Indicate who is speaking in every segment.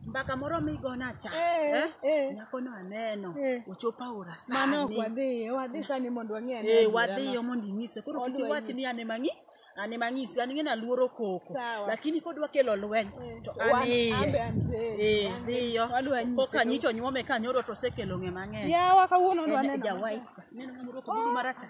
Speaker 1: mbaka moro migona cha Eh, eh? eh. nyakono aneno Eh. ochopo aora Mano ok sani wadhiye,
Speaker 2: wadhi sani mondo wang'e ane Eh, adiera wadhiyo ma- mondo inyise
Speaker 1: koro kik Odwa iwach ni ane mang'i ane mang'isi an ng'eni aluoro koko Sawa. lakini kodwa kelo lweny Eh, to wan- an iye ambe an be, Eh, an be. dhiyo Wadwa nyise koka to- nyicho nyuome ka nyoro to osekelo ng'e mang'eny Yawa kawuono En nwaneno.
Speaker 2: ja white ka. Neno
Speaker 1: ng'ama
Speaker 2: orwako
Speaker 1: ogudu marachar.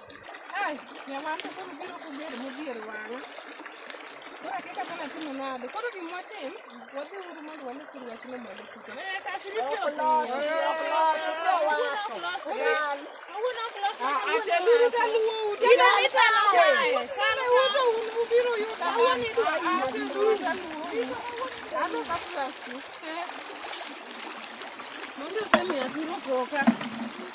Speaker 1: Ai, nyawanda koro biro kubedo modhier wang'a. Koro akeka mana timo nade. Koro gima watim, wadhi uru mondo wane kiri wach ni mondo kuto. Eh, kasi ni pio. Ok los, ok los, ok los. Kawuono ok los. Ateburu ka luwo uta. Ina ita na wae. Kane uta un ubiro yuda. Awuoni dwa. Ateburu ka luwo uta. Ano ka plastic. Mondo semi aturo koka.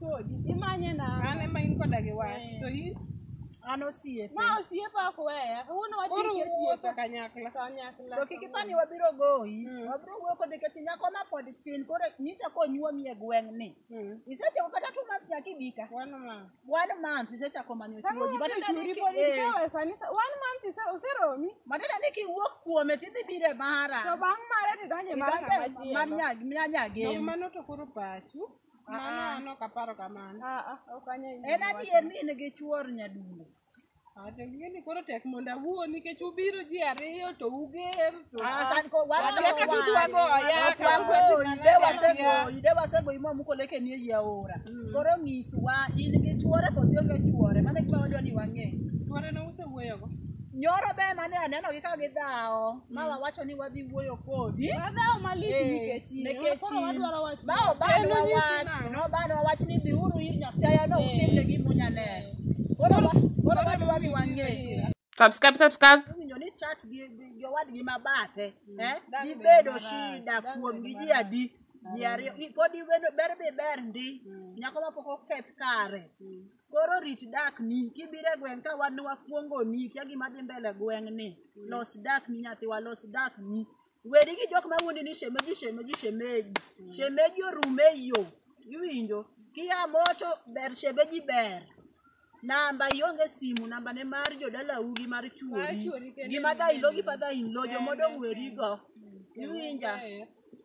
Speaker 1: kodi imanye na an ema in koda gi wach to in an osiepe ma osiepa ok weya kawuono koro watieki wuotho atieka kanyakla kanyakla to kik ipani wabiro goyi wabiro wuoyo kode kech nyako ma pod tin koro nyicha konyuomi e gweng'ni Mm. isechako kata two months nyaka ibika One month. one month isechako manyo Kama chuoji watu churi podi isewe sani sa- one month ise- useromi matenda ni kiwuok kuome tidhi bire to mara bang' mare tidonje mar Idonje kama mar chielo nyag- mar Nyag nyagem mano to koro pachu Mano an ok aparo kamano. Aa, ok anya yie En gi wachno. adier ni in gi chuor nyadundo. Ah, to ing'eni koro tek mondo awuo nikech ubiro ji ariyo to uger to Ah, san ko wan Wakia kaka udwa goya, Ok kaka wagoyi, udwa de goya. wasegoyi, de wasegoyi ma muko leke ni ei aora. Koro nyiswa in gi chuore koso ionge chuore, mano e gima wadwa ni wang'e. chuore ne usewuoyogo. Nyoro be mane aneno gi ka gidhawo. ma wawacho ni wadhi wuoyo kodi Wadhawo malich Eh, nikech in. nikech Koro in. wadwaro wach ma Bawo bado Kendo nyisi wawach, nang'o? no bado wawach ni dhiuru ir Nyasaye no utimne gima unyalero. Koro wa- koro bado wadhi wang'e.
Speaker 3: Subscribe, subscribe. Owinjo ni chat
Speaker 1: gi gi- gi owadgi ma bathe, eh, dibedo shida kuom gi ji adi? Ji ariyo, i- kodi bedo- ber bi ber ndi, nyako ma pok oketh kare. Koro rit dak ni kibire gweng' ka wan wakuongo ni kia gima dhi mbele gweng' ni los dak ni nyathi wa los dak ni wedi gi jok ma wuondi ni shemeji shemeji shemeji shemeji orume yo iwinjo kia moto ber shemeji ber namba ionge simu namba ne mar jodalau gi mar chuori gi madha ilo gi fadha ilo jomodong' weri go iwinja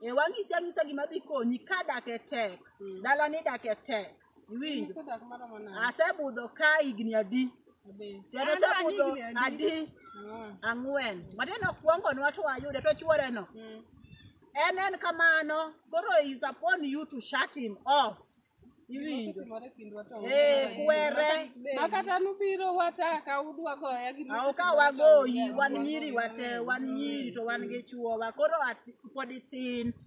Speaker 1: e wang'isi ang'isa gima dhi konyi ka dak e tek dalani dak e tek iwinjo Sadak maromo nade? asebudho ka higni adi Ade. tena An asebudho an higni adi Ah, ang'wen matiende okuongonwa to wayude to chuoreno mm. en en kamano koro is upon you to shut him off iwinjo Osetimore kindwa to Eh, onge. kwere Ma kata nubiro
Speaker 2: wata ka udwa goya gi awo ka wagoyi
Speaker 1: wan nyiri wate wan nyiri to wan gi chuowa koro at- pod itin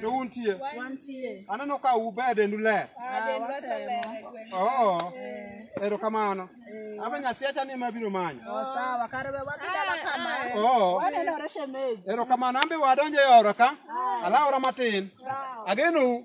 Speaker 1: to
Speaker 4: untie Wantie. aneno
Speaker 1: ka uber
Speaker 4: dendu ler Ah, den wacho watemo. ler e gweng'. oo erokamano aba nyasiacha ni ma biro manyo Oh, sawa kare we
Speaker 1: wadhi dala kama. oo Wanenore
Speaker 4: shemeji. erokamano an be wadonjo e ora ka alaora matin agenou